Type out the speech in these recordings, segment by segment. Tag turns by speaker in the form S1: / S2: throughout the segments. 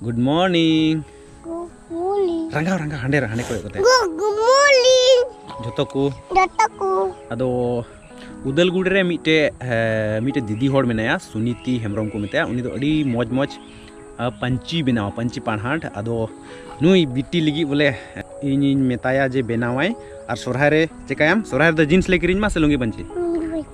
S1: good morning good morning ᱨᱟᱸᱜᱟᱣ ᱨᱟᱸᱜᱟᱣ ᱦᱟᱸᱰᱮ ᱨᱮ ᱦᱟᱸᱰᱮ ᱠᱚᱭᱚᱜ ᱠᱟᱛᱮ ᱜᱩᱰ ᱢᱚᱨᱱᱤᱝ ᱡᱚᱛᱚ ᱠᱚ ᱡᱚᱛᱚ ᱠᱚ ᱟᱫᱚ ᱩᱫᱟᱞᱜᱩᱲ ᱨᱮ ᱢᱤᱫᱴᱮ ᱢᱤᱫᱴᱮ ᱫᱤᱫᱤ ᱦᱚᱲ ᱢᱮᱱᱟᱭᱟ ᱥᱩᱱᱤᱛᱤ ᱦᱮᱢᱵᱨᱚᱢ ᱠᱚ ᱢᱮᱛᱟᱭᱟ ᱩᱱᱤ ᱫᱚ ᱟᱹᱰᱤ ᱢᱚᱡᱽ ᱢᱚᱡᱽ ᱯᱟᱹᱧᱪᱤ ᱵᱮᱱᱟᱣ ᱯᱟᱹᱧᱪᱤ ᱯᱟᱲᱦᱟᱴ ᱟᱫᱚ ᱱᱩᱭ ᱵᱤᱴᱤ ᱞᱟᱹᱜᱤᱫ ᱵᱚᱞᱮ ᱤᱧᱤᱧ ᱢᱮᱛᱟᱭᱟ ᱡᱮ ᱵᱮᱱᱟᱣᱟᱭ ᱟᱨ ᱥᱚᱨᱦᱟᱭ ᱨᱮ ᱪᱮᱠᱟᱭᱟᱢ ᱥᱚᱨᱦᱟᱭ ᱨᱮᱫᱚ ᱡᱤᱱᱥ ᱞᱮ ᱠᱤᱨᱤᱧ ᱢᱟ ᱥᱮ ᱞᱩᱝᱜᱤ ᱯᱟᱹᱧᱪᱤ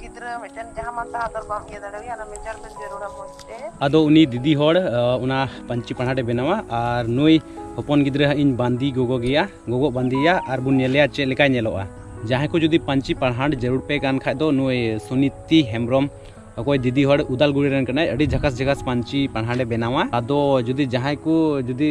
S1: ᱜᱤᱫᱽᱨᱟᱹ ᱢᱤᱫᱴᱮᱱ ᱡᱟᱦᱟᱸ ᱢᱟᱱ ᱛᱟᱦᱟᱸ ᱫᱚ ᱵᱟᱢ ᱤᱭᱟᱹ ᱫᱟᱲᱮᱣᱟᱭᱟ ᱚᱱᱟ ᱢᱮᱡᱟᱨᱢᱮᱱᱴ ᱡᱟᱹᱨᱩᱲᱟ ᱢᱚᱡᱽ ᱛᱮ ᱟᱫᱚ ᱩᱱᱤ ᱫᱤᱫᱤ ᱦᱚᱲ ᱚᱱᱟ ᱯᱟᱹᱧᱪᱤ ᱯᱟᱲᱦᱟᱴ ᱮ ᱵᱮᱱᱟᱣᱟ ᱟᱨ ᱱᱩᱭ ᱦᱚᱯᱚᱱ ᱜᱤᱫᱽᱨᱟᱹ ᱦᱟᱸᱜ ᱤᱧ ᱵᱟᱸᱫᱮ ᱜᱚᱜᱚ ᱜᱮᱭᱟ ᱜᱚᱜᱚ ᱵᱟᱸᱫᱮᱭᱟ ᱟᱨ ᱵᱚᱱ ᱧᱮᱞᱮᱭᱟ ᱪᱮᱫ ᱞᱮᱠᱟᱭ ᱧᱮᱞᱚᱜᱼᱟ ᱡᱟᱦᱟᱸᱭ ᱠᱚ ᱡᱩᱫᱤ ᱯᱟᱹᱧᱪᱤ ᱯᱟᱲᱦᱟᱴ ᱡᱟᱹᱨᱩᱲ ᱯᱮ ᱠᱟᱱ ᱠᱷᱟᱡ ᱫᱚ ᱱᱩᱭ ᱥᱩᱱᱤᱛᱤ ᱦᱮᱢᱵᱨᱚᱢ ᱚᱠᱚᱭ ᱫᱤᱫᱤ ᱦᱚᱲ ᱩᱫᱟᱞᱜᱩᱲᱤ ᱨᱮᱱ ᱠᱟᱱᱟᱭ ᱟᱹᱰᱤ ᱡᱷᱟᱠᱟᱥ ᱡᱷᱟᱠᱟᱥ ᱯᱟᱹᱧᱪᱤ ᱯᱟᱲᱦᱟᱴ ᱮ ᱵᱮᱱᱟᱣᱟ ᱟᱫᱚ ᱡᱩᱫᱤ ᱡᱟᱦᱟᱸᱭ ᱠᱚ ᱡᱩᱫᱤ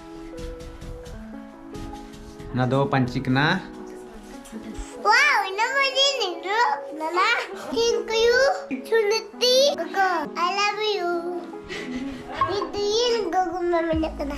S1: ᱚᱱᱟ ᱫᱚ ᱯᱟᱹᱧᱪᱤ ᱠᱟᱱᱟ ᱣᱟᱣ ᱤᱱᱟ ᱢᱟ ᱫᱤᱱ ᱫᱚ ᱱᱟᱱᱟ ᱛᱤᱱ ᱠᱩᱭᱩ ᱪᱩᱱᱤᱛᱤ ᱜᱚᱜᱚ ᱟᱭ ᱞᱟᱵ ᱭᱩ ᱱᱤᱛᱤᱱ ᱜᱚᱜᱚ ᱢᱟ ᱢᱮᱱᱟᱜ ᱠᱟᱱᱟ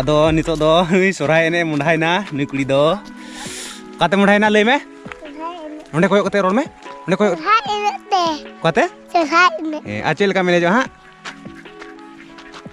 S1: ᱟᱫᱚ ᱱᱤᱛᱚᱜ ᱫᱚ ᱱᱩᱭ ᱥᱚᱨᱦᱟᱭ ᱮᱱᱮᱡ ᱢᱚᱸᱰᱷᱟᱭᱱᱟ ᱱᱩᱭ ᱠᱩᱲᱤ ᱫᱚ ᱚᱠᱟᱛᱮ ᱢᱚᱸᱰᱷᱟᱭᱱᱟ ᱞᱟᱹᱭ ᱢᱮ ᱚᱸᱰᱮ ᱠᱚᱭᱚᱜ ᱠᱟᱛᱮ ᱨᱚᱲ ᱢᱮ ᱚᱸᱰᱮ ᱠᱚᱭᱚᱜ ᱚᱠᱟᱛᱮ ᱥᱚᱨᱦᱟᱭ ᱮᱱᱮᱡ ᱟᱨ ᱪᱮᱫ ᱞᱮᱠᱟᱢ ᱮᱱᱮᱡᱚᱜᱼᱟ ᱦᱟᱸᱜ